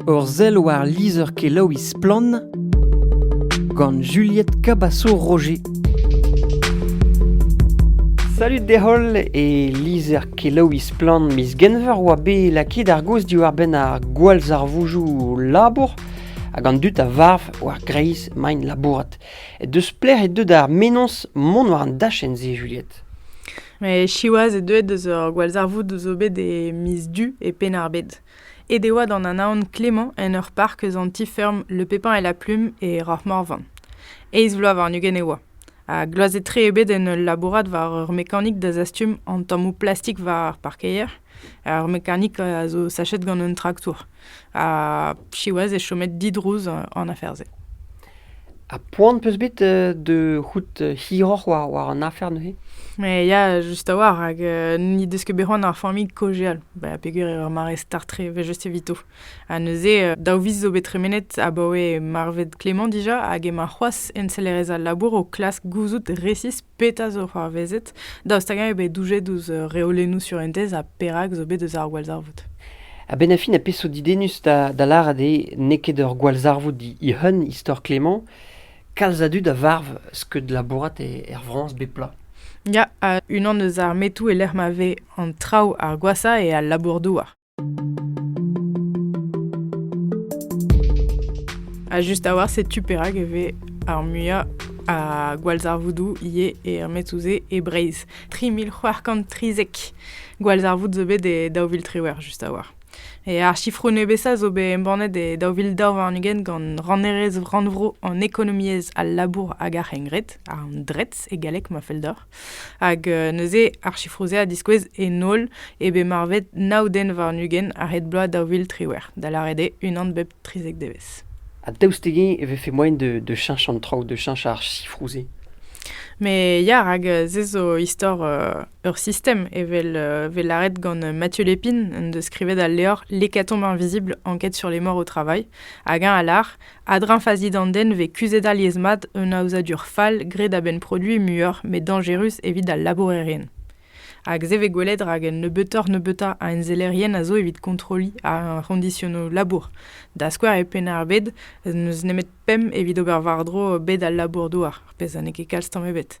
Ur sell war lizher-kelaouiñ Splann! gant Juliette Cabasso-Roger. Salut deholl e lizher-kelaouiñ Splann! miz Genver oa bet lakaet ar gaoz diwar-benn ar gwallzarvoujoù labour hag an dud a varv war greiz maint labourat. Deus plec'h eo deuet ar menoz mont war an dachenn-se, Juliette? Met siwazh eo deuet eus ur gwallzarvoud zo bet e miz Du e Penn-ar-Bed. Aet e oa d'an anaon Clément en ur park eus an ti-feurm Le Pépin et la Plume e Rahmorvan. Eizh vloaz warn-ugent e oa, ha gloazet-tre eo bet en ul labourat war ur mekanik da zastum an tammoù plastik war ar parkeier. Ar mekanik a zo sachet gant un traktour, ha siwazh eo chomet didrouz an afer-se. Ha poan 'peus bet euh, da c'hoût hiroc'h war, war an afer neuze? Mais ya, just a-walc'h, hag euh, n'he deus ket bet c'hoant ar familh kojeal, ba, peger eo ar mare start tre, evel just evito. Ha neuze, euh, daou viz zo bet tremenet abaoe marvet Clément dija, hag emañ c'hoazh ensellerez al labour o klask gouzout resis petra zo c'hoarvezet, daoust hag-eñ eo bet doujet ouzh uh, reolennoù surentez ha perak zo bet eus ar gwallzarvoud. Ha bennafi na peso didennus da, da lâret eo n'eo ket ur gwallzarvoud he-hun, istor Clément, kalz a dud a varv skeud labourat e, er Frañs bep bloaz. Ya, ha unan eus ar metoù e-lec'h ma vez an traoù ar gwashañ eo al labour-douar. Ha just a-walc'h, setu perak e vez ar muiañ a gwallzarvoudoù ivez e Metsouzé e Breizh. 3030 gwallzarvoud zo bet e daou vil triwec'h just a-walc'h. E ar sifroù nebesañ zo bet embannet e daou vil daou warn-ugent gant rannerez rannvro an ekonomiezh, al labour hag ar c'hengred, an DRETS e galleg ma fell deoc'h. Hag euh, neuze ar chifroù-se a diskouez en holl eo bet marvet nav den warn-ugent a-hed bloaz daou vil triwec'h, da lâret eo unan bep trizek devezh. Ha daoust dezhi e vefe moaien de, de cheñch an traoù, de cheñch ar chifroù-se Mais ya, rak euh, se zo istor euh, ur sistem, evel euh, vez lâret gant Mathieu Lépine, en deus skrivet al levr L'hécatombe invisible, enquête sur les morts au travail, hag eñ a lâr A-dreñv fazi d'an den e vez kuzhet alies-mat un aozadur fall graet a-benn produiñ muioc'h met dañjerus evit al labourerien. Hag se vez gwelet rak un nebeutoc'h-nebeutañ a ensellerien a zo evit kontrolliñ ar c'hondisionoù labour, da skouer e Penn-ar-Bed n'eus nemet pemp evit ober war-dro bed al labour-douar, ar pezh ha n'eo ket kalz tamm ebet.